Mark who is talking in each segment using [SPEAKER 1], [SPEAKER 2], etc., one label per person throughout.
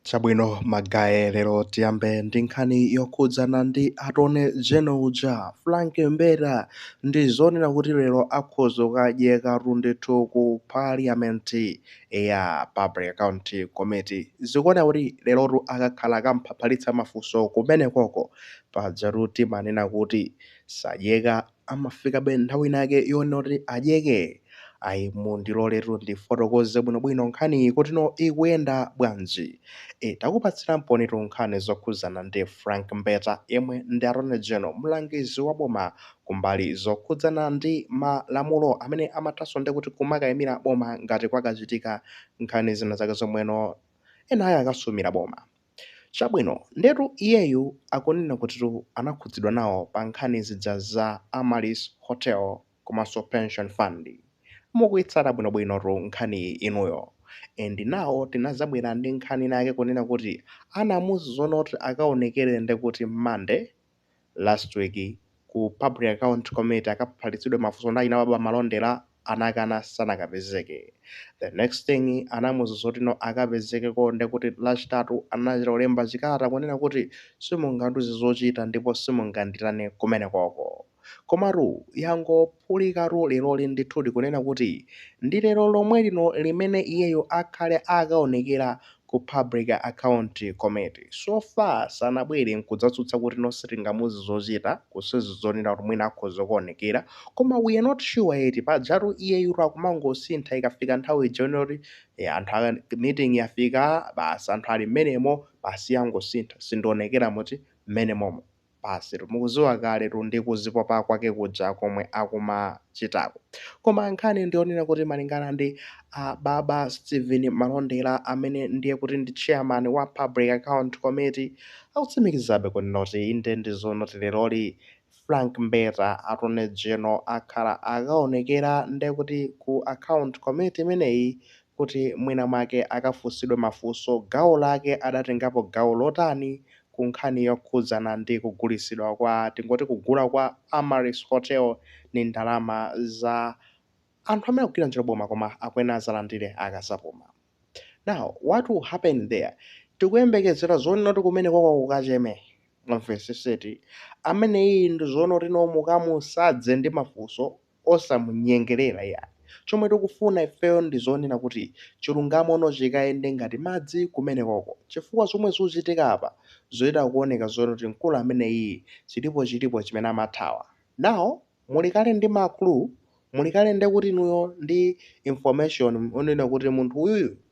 [SPEAKER 1] Chabwino magaye lero tiyambe ndi nkhani yokhudzana ndi Attorney General uja Frank Mbeta ndi zonena kuti lero akhoza kukadyeka ndithu ku parliament ya Public Account Committee zikuoneka kuti lerotu akakhala akamphapalitsa mafunso kumenekoko pajatu timanena kuti sadyeka amafikabe nthawi inayake yonena kuti adyeke? Ayi, mundiloletu ndifotokoze bwinobwino nkhaniyi kutino ikuyenda bwanji. Takupatsira mponitu nkhani zokhudzana ndi Frank Mbeta yemwe ndi Attorney General, mlangizi wa boma ku mbali zokhudzana ndi malamulo amene amathanso ndi kuti kumakaimira boma ngati kwakachitika nkhani zina zake zomweno enaake akasumira boma. Chabwino, ndetu iyeyu akunena kutitu anakhudzidwa nawo pa nkhani zija za Amaryllis Hotel komanso Pension Fund. Mukuyitsata bwinobwinotu nkhaniyi inuyo. And now tinadzabwera ndi nkhani inayake kunena kuti anamuuza zonena kuti akaonekere ndekuti Monday. last week ku Public Account Committee akaphalitsidwe mafunso ndi achina baba Malondera anakana sanakapezeke the next thing anamuuza zoti no akapezekeko ndekuti lachitatu anachita kulemba chikalata kunena kuti simungandiuze zochita ndipo simunganditane kumenekoko komatu yangophulikatu leroli ndithudi kunena kuti ndi lero lomwe lino limene iyeyo akhale akaonekera ku Public Account Committee so far sanabwere nkudzatsutsa kuti no sitingamuuze zochita kusonyeza zonena kuti mwina akhoza kuonekera koma we are not sure yet pajatu iyeyutu akumangosintha ikafika nthawi ija yonena kuti eh, anthu aka meeting yafika basi anthu ali mmenemo basi iye angosintha sindionekera muti mmenemomo basitu mukuziwa kaletu ndi kuzipopa kwake kuja komwe akumachitako. Koma nkhani ndiyonena kuti malingana ndi a baba Steven Malondera amene ndiye kuti ndi chairman wa Public Account Committee akutsimikizabe kunena kuti inde ndi zoona kuti leroli Frank Mbeta Attorney General akhala akaonekera ndekuti ku account committee imeneyi kuti mwina mwake akafunsidwe mafunso gawo lake adatengapo gawo lotani ku nkhani yokhudzana ndi kugulitsidwa kwa tingoti kugula kwa Amaryllis Hotel ndi ndalama za anthu amene akugwira ntchito m'boma koma akuyenera adzalandire akadzapuma now what will happen there tikuyembekezera zonena kuti kumenekoko kukacheme mwamvetsetsa eti ameneyi ndi zonena kuti no mukamusadze ndi mafunso osamunyengerera iyayi chomwe tikufuna ifeyo ndi zonena kuti chilungamo no chikayende ngati madzi kumenekoko chifukwa zomwe zuchitika apa zuchita kuoneka zonena kuti mkulu ameneyi chilipo chilipo chimene amathawa now muli kale ndi ma clue muli kale ndekuti inuyo ndi information onena kuti munthu uyuyu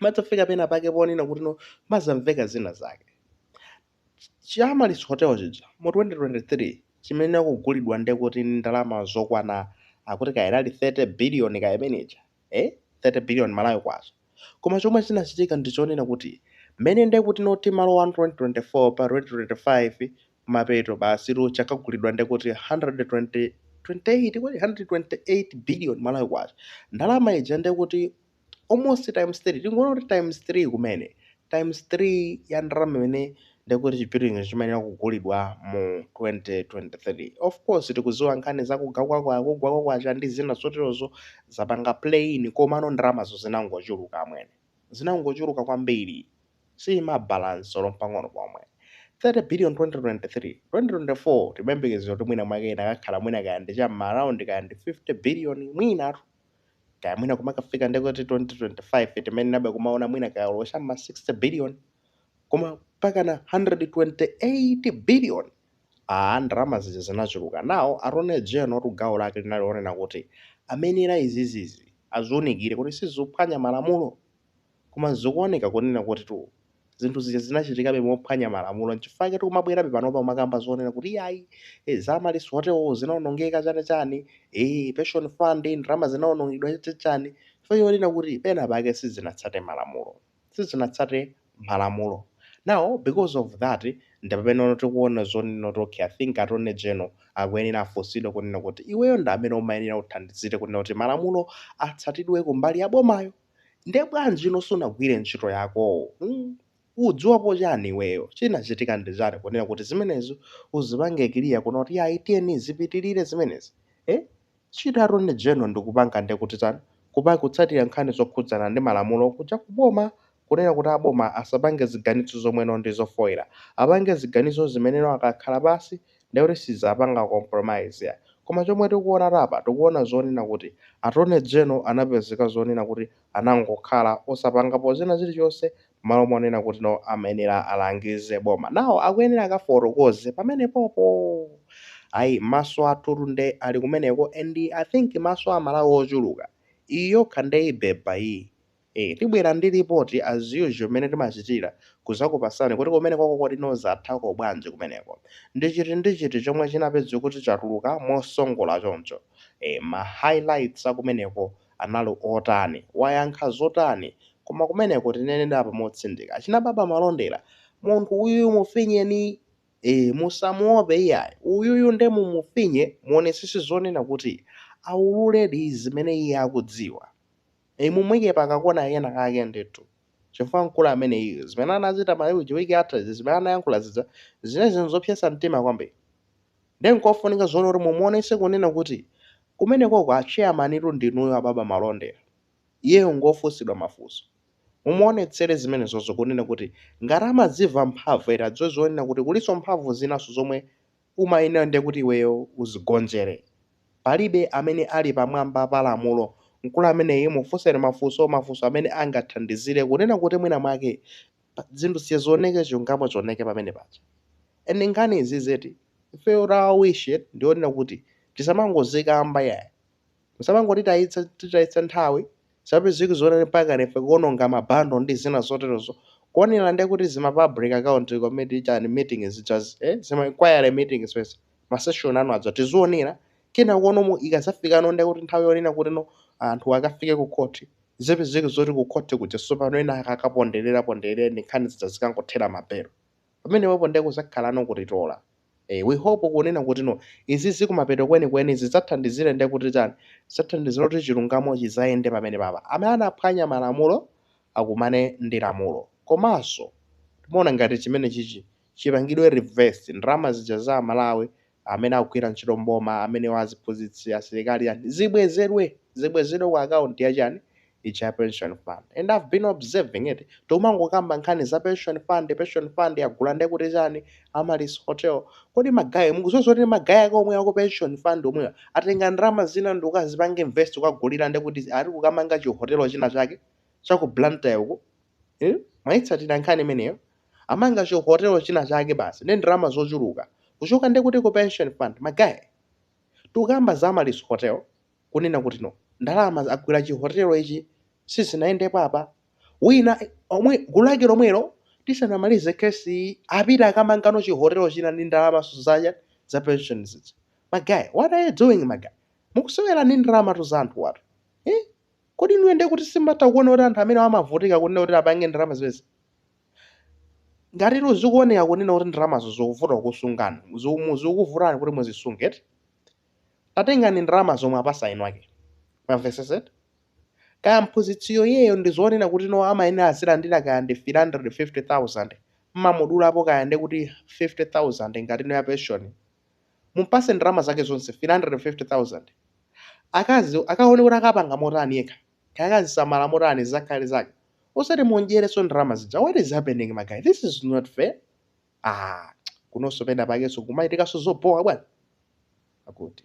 [SPEAKER 1] madzafika pena pake ponena kuti no mazamveka zina zake cha Amaryllis Hotel chija mu 2023 chimayenera kugulidwa ndi kuti ndi ndalama zokwana akuti kaya inali 30 billion kaya imene ija eh 30 billion malawi kwacha koma chomwe chinachitika ndi chonena kuti mmene ndi kuti noti malo 1 2024 pa 2025 mapeto basi chakagulidwa ndi kuti 120 28 kodi 128 billion malawi kwacha ndalama ija ndi kuti almost times 3 tingoona kuti times 3 kumene times 3 ya ndalama imene ndikuti chi building chimayenera kugulidwa mu 2023 of course tikuziwa nkhani zakugwa kwa kwa kugwa kwa kwacha ndi zina zoterozo zapanga play komano ndalamazo zinangochuluka amwene zinangochuluka kwambiri sizimabalance olo mpang'ono pomwe. 30 billion 2023 2024 timayembekezera kuti mwina mwake ikanakhala mwina kaya ndi cha m'maraundi kaya ndi 50 billion mwinatu kaya mwina kumakafika ndekuti 2025 timayenerabe kumaona mwina kaya olo cha m'ma 60 billion koma mpakana 128 billion a ndalama zija zinachuluka nawo attorney general-tu gawo lake linali lonena kuti amayenera izizizi aziunikire kuti sizikuphwanya malamulo Koma zikuoneka kunena kutitu zinthu zija zinachitikabe mophwanya malamulo nchifukwa chake tikumabwerabe panopa kumakamba zonena kuti iyayi eh, za Amaryllis Hotel zinaonongeka chani chani eh, pension fund ndalama zinaonongedwa chani chani chifukwa chonena kuti pena pake sizinatsate malamulo sizinatsate malamulo now because of that ndi pameneno tikuona zonena kuti okay I think Attorney General akuyenera afunsidwe kunena kuti iweyo ndi amene umayenera uthandizire kunena kuti malamulo atsatidwe kumbali ya bomayo Nde bwanji ino sunagwire ntchito yako? Hmm? Udziwapo chani iweyo? Chinachitika ndi chani kunena kuti zimenezo uzipange clear kunena kuti ayi tiyeni zipitilire zimenezi? Eh? Ntchito ya Attorney General ndi kupanga nde kuti chani? Kupa, kutsatira nkhani zokhudzana ndi malamulo kuja ku boma kunena kuti a boma asapange ziganizo zomweno ndi zofoira. Apange ziganizo zimeneno akakhala pansi ndekuti sidzapanga compromise ayi koma chomwe tikuonatu apa tikuona zonena kuti attorney general anapezeka zonena kuti anangokhala osapangapo zina zilichonse mmalo monena kuti no amayenera alangize boma now akuyenera akafotokoze pamenepopo ayi maso athutu nde ali kumeneko and i think maso a amalawi ochuluka iyi yokha nde ibeba iyi. ee tibwera ndi report as usual mmene timachitira kuzakupasani kuti kumenekoko kodi no zathako bwanji kumeneko ndi chiti ndi chiti chomwe chinapezeka kuti chatuluka mosongola choncho ee ma highlights akumeneko anali otani wayankha zotani koma kumeneko tineneretu apa motsindika achina baba Malondera munthu uyuyu mufinyeni ee musamuope iyayi uyuyu nde mumufinye muonesese zonena kuti aululedi zimene iye akudziwa. Eeh mumuike pa ka kona kena kake ndithu chifukwa mkulu ameneyu zimene anachita Mayi uje week yatha izi zimene anayankhula zija zinazi zopsetsa mtima kwambiri nde nkofunika zoona kuti mumuonetse kunena kuti kumenekoko a chairman ndinuyo a Baba Malondera iyeyo ngofunsidwa mafunso mumuonetsere zimenezozo kunena kuti ngati amadziva mphamvu eti adziwe zonena kuti kulinso mphamvu zinanso zomwe umayenera ndiye kuti iweyo uzigonjere. Palibe amene ali pamwamba pa lamulo. Mkulu ameneyu mufunseni mafunso, mafunso amene angathandizire kunena kuti mwina mwake zinthu zija zioneke, chilungamo chioneke pamene paja. And nkhani izizi eti, ifeyo our wish eti, ndiyonena kuti tisamangozikamba yayi. Musamangotitayitsa titayitsa nthawi zapezeka zonena mpaka ife kuononga ma bundle ndi zina zoterozo. Kuonera ndiye kuti zima public account committee chani meeting zijazi zima inquiry meetings zijazi ma session anu aja tizionera kenakono ikazafikano ndiye kuti nthawi yonena kutino anthu akafike ku court zipezeke zoti ku court kuja sopano ena akakapondereza pondereza ndi nkhani zija zikangothera m'malere pamenepopo ndiye kuzakhalano kutitola Eh, we hope kunena kuti no izizi kumapeto kwenikweni zidzathandizire nde kuti chani zidzathandizira kuti chilungamo chizayende pamene papa amene anaphwanya malamulo akumane ndi lamulo komanso timafuna ngati chimene chichi chipangidwe reverse ndalama zija za amalawi amene akugwira ntchito mboma amenewa aziphunzitsi asilikali chani zibwezedwe zibwezedwe ku akaunti ya chani ija ya pension fund and i've been observing eti tomangokamba nkhani za pension fund pension fund yagula nde kuti chani amaryllis hotel kodi magaye mukudziwa kuti magaye ake omwe ako pension fund omwewa atenga ndalama zina ndikukazipanga invest ukagulira nde kuti chani kukamanga chihotelo china chake cha ku blantyre uko eh? mwaitsatira nkhani imeneyo amanga chihotelo china chake basi ndi ndalama zochuluka kuchoka nde kuti ku pension fund magaye tukamba za amaryllis hotel kunena kuti no ndalama agulira chihotelo ichi sizinayendepo apa ena omwe gulu lake lomwelo tisanamalize kesi iyi apita akamangano chihotelo china ndi ndalama zomwe zija za pension zija magaye what are you doing magaye mukusewera ndi ndalamatu za anthu watu eh? kodi inuyo ndiye kuti simatha kuona kuti anthu amene amavutika kunena kuti apange ndalama zimenezi ngatitu zikuoneka kunena kuti ndalamazo zikuvuta kusunga zikumu- zikuvutani kuti muzisunge eti tatengani ndalama zomwezo apatseni eni ake mwamvetsetsa kaya mphunzitsiyo iyeyo ndi zonena kuti no amayenera azilandira kaya ndi 350000 mmamudulapo kaya ndi kuti 50000 akuti no ya pension mumpase ndalama zake zonse 350000 akazi akaone kuti akapanga motani yekha kaya akazisamala motani zakhale zake osati mumudyereso ndalama zija what is happening magaye this is not fair ah, kunonso pena pakenso kumachitikanso zobhowa bwana akuti